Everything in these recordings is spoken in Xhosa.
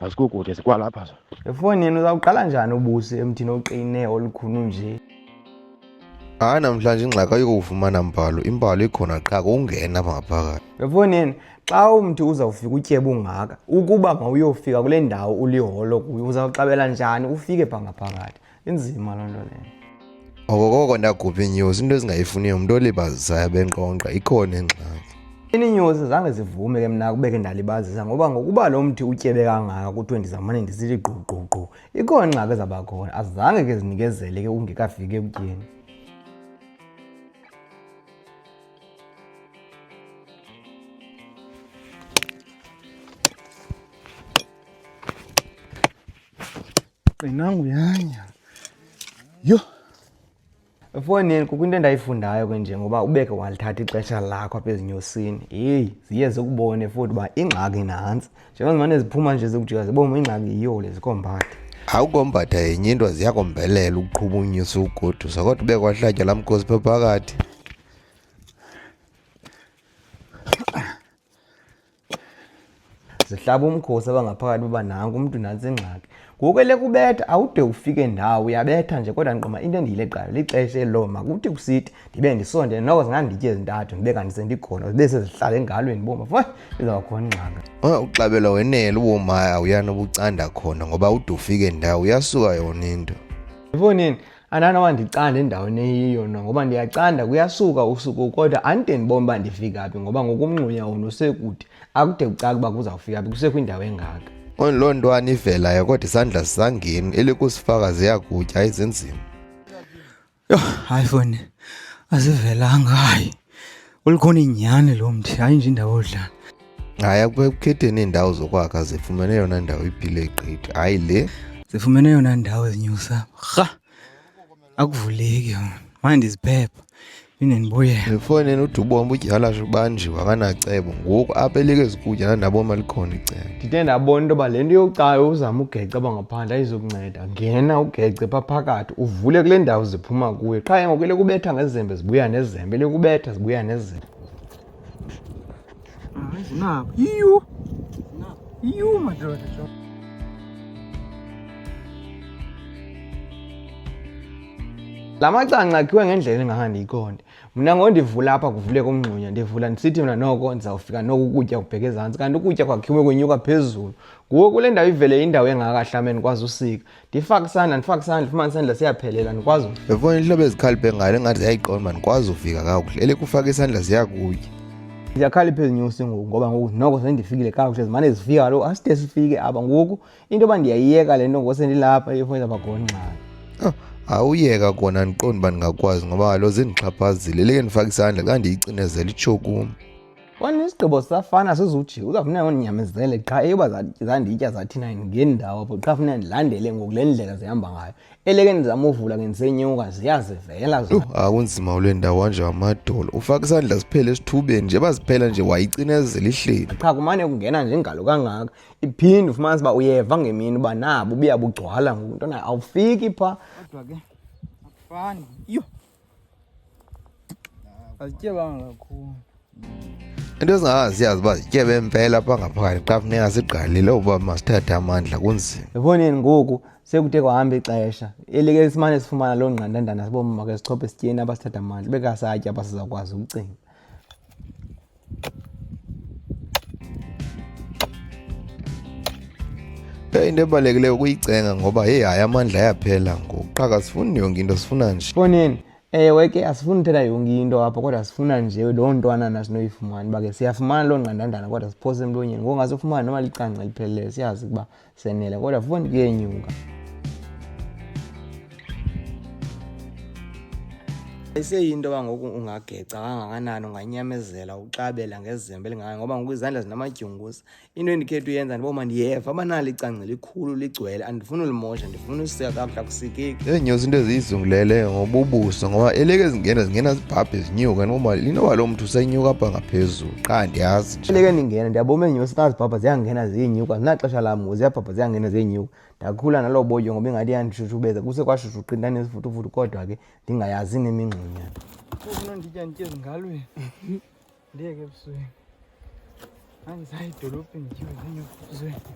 Azikukude zikwalapha zo. Efoni yenu uzawuqala njani ubusi emthini oqine olukhulu nje? Hayi namhlanje ingxaki ayikufumana mbhalo, imbhalo ikhona qha kungena apha ngaphakathi. Efoni yenu xa umntu uzawufika utyebe ungaka ukuba mawuyofika kule ndawo uliholo kuyo uzawuxabela njani ufike pha ngaphakathi? inzima loo nto leyo okokoko ndagubha iinyosi into ezingayifuniyo umntu olibazisayo benkqonkqa ikhona ingxaki ininyosi zange zivume ke mna kubeke ndalibazisa ngoba ngokuba lo mthi utyebe kangaka kuthiwe ndizamane ndisithi gqugqugqu ikhona ingxaki ezabakhona azange ke zinikezele ke ungekafiki ekutyeni qinangu yanya yho efowunini kukho into endayifundayo ke nje ngoba ubeke walithatha ixesha lakho apha ezinyosini heyi ziye zikubone futhi uba ingxaki nantsi njengozimane ziphuma nje zikujika ziboma ingxaki yiyo le zikombade awukombada yenye into ziyakombelela ukuqhuba unyusa ugodusa kodwa ube kwahlatywa laa mkhosi pha phakathi zihlaba umkhosi abangaphakathi uba nanku umntu nantsi ingxaki ngoku elekubetha awude ufike ndawo uyabetha nje kodwa ndiqoma into endiyileqayo lixesha eloo makuthi kusithi ndibe ndisonde noko zinganditye ezintathu ndibe kandisendikhona zibe sezihlala engalweni boma fo izawukhona ingxaka uxabela wenele ubomaya awuyani obucanda khona ngoba ude ufike ndawo uyasuka yona into ndibonini andanoba ndicanda endaweni eyiyo no ngoba ndiyacanda kuyasuka usuku kodwa andide ndibone uba ndifika phi ngoba ngokumngxunya wona usekude akude kucaka uba kuzawufika phi kusekwindawo engaka loo ntwana ivelayo kodwa isandla sisangeni elikusifaka ziyakutya izenzima yho hayi foni azivelanga hayi Ulikhona inyani lo mthi, hayi nje indawo odlala. Hayi akukhetheni iindawo zokwakha zifumene yona ndawo iphile gqithi, hayi le. Zifumene yona ndawo ezinyusa. Rha! Akuvuleki yona. Manje ndiziphepha. Phinde ndibuyele. Ndifone uthi ubomba udyala ubanjiwe akanacebo ngoku apha elekezi kutya nandaboma likhona icebo. Ndide ndabona into yoba le nto yokucayo uzama ugeca abangaphandle ayizukunceda. ngena ugece pha phakathi uvule kule ndawo ziphuma kuyo qha ngoku lekubetha ngezembe zibuya nezembe lekubetha zibuya nezembe hayi zinabo yiyo yiyo madoda la macanca akhiwe ngendlela engahandi ikonde mna ngondivula apha kuvuleka umngxunya ndivula ndisithi mna noko ndizawufika noko ukutya kubheke ezantsi kanti ukutya kwakhiwe kwenyuka phezulu Kuwo kule ndawo ivele indawo engaka hlameni ndikwazi usika ndifake isandla ndifake isandla fumane isandla siyaphelela ndikwazi befona intlobo ezikhaliphe ngayo engathi ziyayiqonda uba ndikwazi uvika kakuhle elekufaka isandla ziyakuye ndiyakhalipha ezinyusi ngoku ngoba ngoku noko sendifikile kakuhle zimane zifika kaloku aside sifike aba ngoku into yoba ndiyayiyeka le nto ngose ndilapha ifoni zabagongxana oh, awuyeka kona ndiqonda uba ndingakwazi ngoba kalo zindixhaphazile leke ndifake isandla xa ndiyicinezela itshokum Wani isigqibo sisafana sizujika uzawufuneka undinyamezele qha eyoba zanditya zathina ngendawo apho qha funeka ndilandele ngoku le ndlela zihamba ngayo eleke ndizama uvula ngendisenyuka ziyazivela yho akunzima ule ndawo anje amadolo ufaka isandla siphele esithubeni nje baziphela nje wayicinezela ihleli qha kumane kungena nje ngalo kangaka iphinde ufumanisa uba uyeva ngemini uba nabo buyabugcwala ngoku ntona awufiki phaa kodwa ke akufani yho Azitye banga kakhulu. into ezingazi siyazi uba zitye bempela apha ngaphakathi xa funeka sigqalile uba masithathe amandla kunzima yaboneni ngoku sekude kwahamba ixesha elike simane sifumana loo ngqandandana sibomama ke sichophe esityeni abasithatha amandla bekasatya abasizawukwazi ukucinga Eh, into ebalulekileyo ukuyicenga ngoba heyi hayi amandla ayaphela ngoku qha kasifuni yonke into sifuna nje foneni ewe eh, ke asifuni uthetha yonke into apha kodwa sifuna nje loo ntwana nasinoyifumani uba ke siyafumana loo ngqandandana kodwa siphose emlonyeni ngoku ngasifumana noma licanca lipheleleyo siyazi ukuba senele kodwa foni kuyenyuka iseyinto yoba ngoku ungageca kangakanani unganyamezela uxabela ngezembe elingaka ngoba ngoku izandla zinamadyunguza into endikhetha uyenza ndiboma ndiyeva abanalo icangce likhulu ligcwele andifuni ulimosha funa usika kamhla kusikiki ezinye izinto eziyizungulele ngoba ubuso ngoba eleke zingena zingena zibhabhe zinyuka ngoba linoba lo mntu usenyuka apha ngaphezulu qha ndiyazi nje eleke ndingena ndiyaboma eenyosi xa zibhabha ziyangena ziyenyuka zinaxesha lam ziyabhabha ziyangena ziyenyuka ndakhula naloo boyo ngoba ingathi yandishushubeza kuse kwashushu qinta nezifutufuthu kodwa ke ndingayazi nemingxunyana ufuna nditya nditye ezingalweni Ndiye ke busuku. Angisayi edolobheni nje ngenye busuku.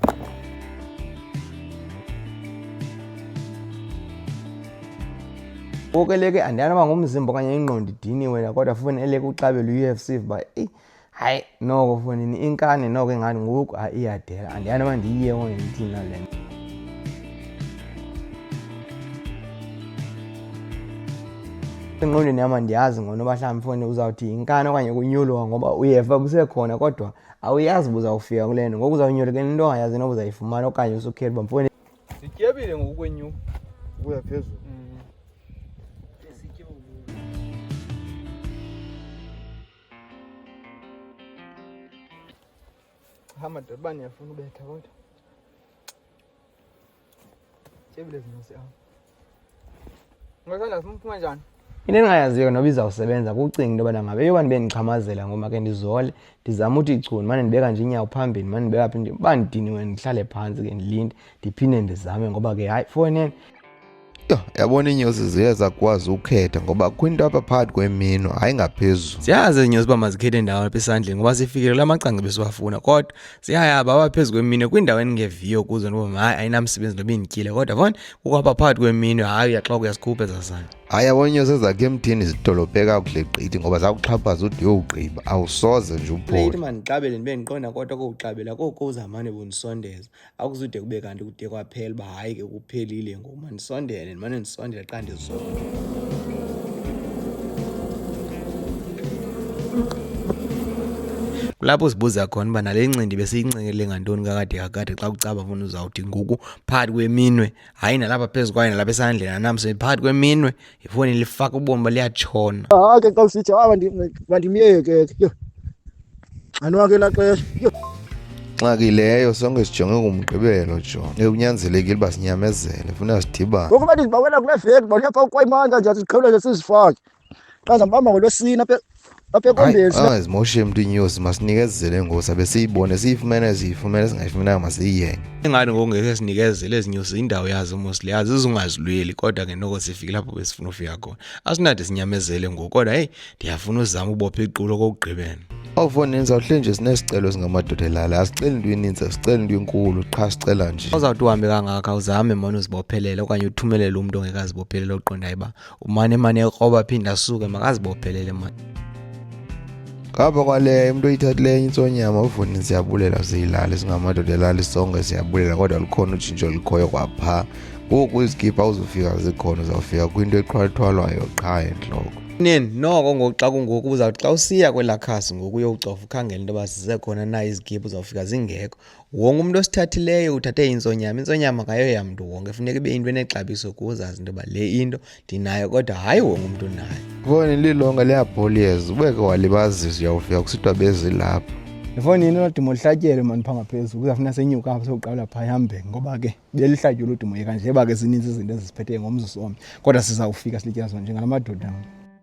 Konke leke andiyana uba ngumzimba okanye ingqondo idiniwe la kodwa funi eleke uxabela u-UFC uba eyi hayi noko funini inkani noko ingani ngoku hayi iyadela andiyana uba ndiyiye ongenithina le nto engqondweni yam andiyazi ngono uba mhlawumbi mfone uzawuthi yinkani okanye kunyulwa ngoba uyeva kusekhona kodwa awuyazi uba uzawufika kule nto ngoku uzawunyula ke into ongayazi noba uzayifumana okanye usukhela uba mfone sityebile ngokukwenyuka ukuya phezulu hamba dodobani yafuna ubetha kodwa into endingayaziyo ke noba izawusebenza kucinga into yobana ngabe yoba ndibe ndixhamazela ngoma ke ndizole ndizame uthi ichuni mane ndibeka nje inyawo phambili mane ndibeka phi uba ndidiniwe ndihlale phantsi ke ndilinde ndiphinde ndizame ngoba ke hayi fowuneni Yho, yabona iinyosi ziye zakwazi ukukhetha ngoba kwinto apha phakathi kwemino hayi ngaphezulu ziyazi izinyosi uba mazikhethe ndawo apha esandleni ngoba sifikelele amacanga besiwafuna kodwa ziyayaba apha phezu kwemino kwindawo endingeviyo kuzo noba hayi ayinamsebenzi noba indityile kodwa fon kukho apha phakathi kwemino hayi uyaxoka uyazikhupha ezasana hayi yabona iinyosi ezakhe emthini zidolophe kakuhle gqithi ngoba zakuxhaphaza ude uyowugqiba awusoze nje uphole late mandiqabele ndibe ndiqonda kodwa kokuqabela koku uzamane bundisondeza akuzude kube kanti kude kwaphela uba hayi ke kuphelile ngoku mandisondele ndimane ndisondele xa ndizona kulapho sibuza khona uba nale ncindi besiyincenkele ngantoni kakade kakade xa kucaba funa uzawuthi ngoku phakathi kweminwe hayi nalapha phezu kwayo nalapha esandleni anamse phakathi kweminwe ifoni lifaka ubomi baliyatshona hayi ke xa usithi hayi bandimyeke ke anwa ke laxesha nxaki leyo sonke sijonge ngumgqibelo jon ekunyanzelekile uba sinyamezele funa sidibane ngokuba ndizibawela kule veki ndibawela pha ukwayimandla nje siqhawulele sizifake xa ndizambamba ngolwesini apha Ah, zimoshe emntwini yosi masinikezele ngosi abe siyibone siyifumene siyifumene singayifumenanga masiyiyenge ingani ngokungeke sinikezele ezinyusi indawo yazo mosile yazi izungazilweli kodwa ke noko sifike lapho besifuna ufika khona asinade sinyamezele ngoku kodwa heyi ndiyafuna uzama ubopha iqulo kokugqibela awufoni yenza uhle nje sinesicelo singamadoda elala asiceli into eninzi asiceli into enkulu qha sicela nje uzawuthi uhambe kangaka uzame mona uzibophelele okanye uthumelele umntu ongekazibophelele oqondayo uba umane mane ekroba aphinde asuke makazibophelele mani ngapha kwaleyo umuntu oyithathileyo enye intsonyama uvuni siyabulela siyilale singamadoda elali sonke siyabulela kodwa lukhona utshintsho likhoyo kwapha ngoku izikhipha uzofika zikhona uzawufika kwinto ethwalithwalwayo qha entloko nini noko ngoku xa kungoku uzawuthi xa usiya kwelaa khasi ngoku uyowucofa ukhangela into yoba zisekhona na izigibhu uzawufika zingekho Wonke umntu osithathileyo uthathe intsonyama. Intsonyama kayoya mntu wonke, funeka ibe into enexabiso kuze azi into yoba le into ndinayo kodwa hayi wonke umntu unayo. Ifowuni lilonke liyabholiyeza, ubeke walibazisa uyawufika kusithiwa bezilapha. Ifowuni yini lodimo lihlatyelwe mani phaa ngaphezulu kuzawufuna senyuka apha sokuqala phaa ihambe ngoba ke belihlatyelwe udimo yeka nje ba ke zininzi izinto ezisiphetheyo ngomzuzu omnye kodwa sizawufika silityazo njengala madoda.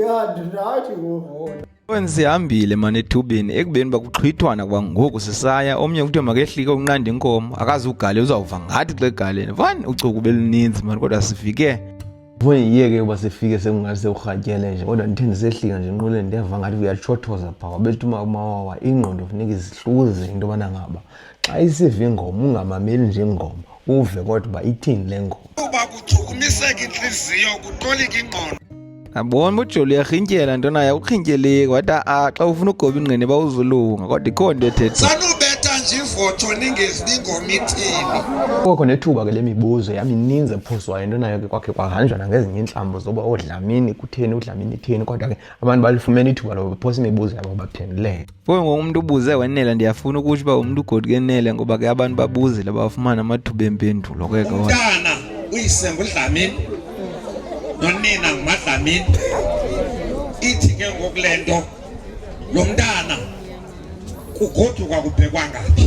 ya ndinathi ngoku sihambile mani ethubeni ekubeni bakuxhwithwana kwangoku sisaya omnye kuthiwe makehlike unqanda inkomo akazi ugale uzawuva ngathi xa egaleni fani uchuku beluninzi mani kodwa sifike ndiyeke uba sifike sekungathi sekurhatyele nje kodwa ndithe ndisehlika nje nquleni ndiyava ngathi uyatshothoza phaa wabethuma umawawa ingqondo funeka izihluze into yobana ngaba xa isiva ingoma ungamameli nje ingoma uve kodwa uba ithini le ngoma uba kuchukumiseka intliziyo kutolika ingqondo abona ujoli uyarhintyela nto naye uqhintyeleki wathi a xa ufuna ugoba ingqini bawuzulunga kodwa ikho nto ethetha ivotsho ningezibi ngomithini koko nethuba ke le mibuzo yamininzi ephuzwayo into nayo ke kwakhe kwahanjwa nangezinye iintlambo zoba oodlamini kutheni udlamini itheni kodwa ke abantu balifumene ithuba loba baphosa imibuzo yabo baphenduleke Kuyo ngoku umntu ubuze wenele ndiyafuna ukutsho uba umntu ugodi kenele ngoba ke abantu babuzile bafumana amathuba empendulo ke ke umntana uyisembo udlamini nonina ngumadlamini ithi ke ngoku le nto lo mntana kugoduka kubhekwa ngaphi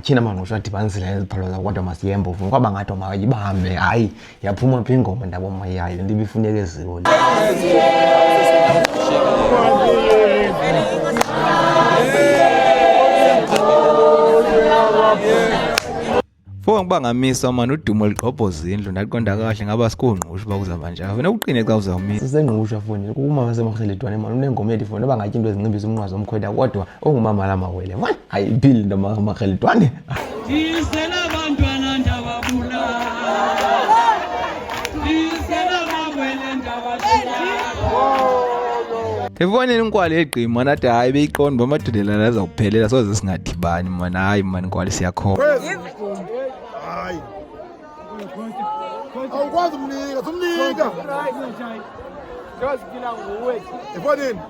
Tyhina mangqusho adibanisile neziphalo zakodwa masiyembe uvuma kwaba ngathi mayibambe hayi yaphuma phi ingoma ndaba mayayo le nto ibifuneka eziwo le Fowang uba ngamiswa mani udumo ligqobhoza indlu ndaqonda kahle ngaba sikungqusha uba kuzaba njalo funeka uqine xa uzawumisa sisengqusha foni kumama semarheledwane mani unengoma ethi foni uba ngatyi into ezincimbisa umnqwazi omkhweda kodwa ongumama la mawele mani ayipili into makheli twande efoneni inkwali egqi mani ade hayi beyiqondi uba amadolela laza kuphelela soze singadibani mani hayi mani inkwali siyakhona awukwazi umnika sumnika ifo nini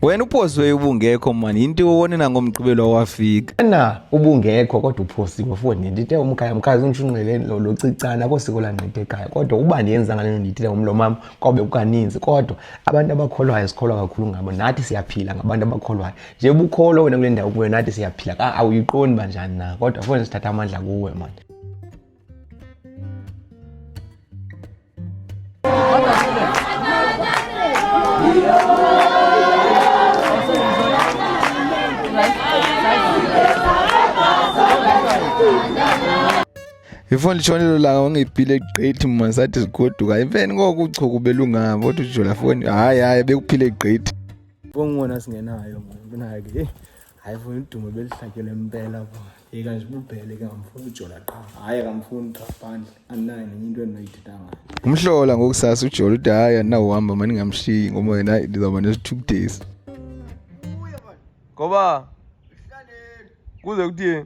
wena uphosiweyo ubungekho mani yinto iwone nangomgqibelo wafika na ubungekho kodwa uphosiwe foni ndite umkhaya mkhazi undishunqeleni locicana kosiko langqithe ekhaya kodwa uba ndiyenza ngaleno nditile umlo mam kobe kukaninzi kodwa abantu abakholwayo sikholwa kakhulu ngabo nathi siyaphila ngabantu abakholwayo nje bukholwa wena kule ndawo kuyo nathi siyaphila awuyiqondi banjani na kodwa fone sithatha amandla kuwe mani ifoni litshonelo langa ungibhile gqithi mma sathi zigoduka imfeni ngoku uchuku belungabo kodwa ujola foni hayi hayi bekuphile gqithi bongibona singenayo mnake hayi funa udumo belihlatyela impela bo yeka nje ububhele ke ngamfuna ujola qha hayi akamfuni qha phandle andinayo nenye into endinoyithetha ngayo umhlola ngokusasa ujola ude hayi andinawuhamba mani ngamshiyi ngoba yena ndizawuba nesi-two days ngoba kuze kuthini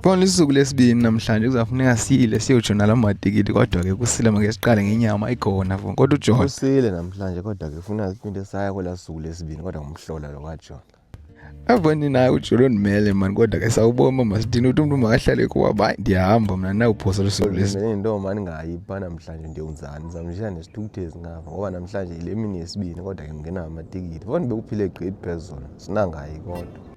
Bona isuku lesibini namhlanje kuzafuneka sile siyojona la matikiti kodwa ke kusile make siqale ngenyama ikhona fo kodwa ujona kusile namhlanje kodwa ke funa siphinde saya kwela suku lesibini kodwa ngumhlola lo kajona avani naye ujolo ndimele mani kodwa ke sawuboma masithini uthi umntu makahlale kuwaba hayi ndiyahamba mna nawuphosa lusuku lesinto mani ngayi uba namhlanje ndiyonzani ndizamshaya nesithukuthezi ngapha ngoba namhlanje yile mini yesibini kodwa ke ndingenawo amatikiti fo ndibe kuphile gqidi phezulu sinangayi kodwa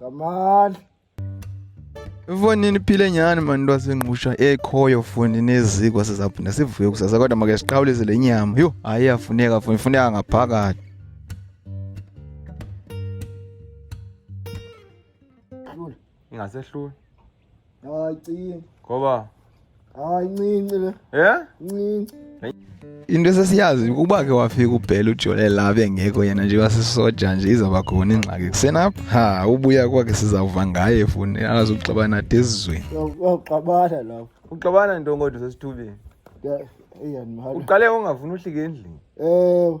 Kamal. Ifonini iphile nyhani mani lwasengqusha ekhoyo fundi neziko sizaphinda sivuye kusasa kodwa make siqhawulise le nyama yho hayi yafuneka fundi ifuneka ngaphakathi ingasehluli Ay cin. Koba. Ay ncinci le. Yeah? Ncinci. into esesiyazi ukuba ke wafika ubhela ujole labe engekho yena nje wasisoja nje izawuba khona ingxaki kusenapha ha ubuya kwakhe sizawuva ngaye funi alazi ukuxabana ade esizweni uxabana lapho uxabana nto kodwa sesithubeni uqale ungafuni uhlike endlini ewe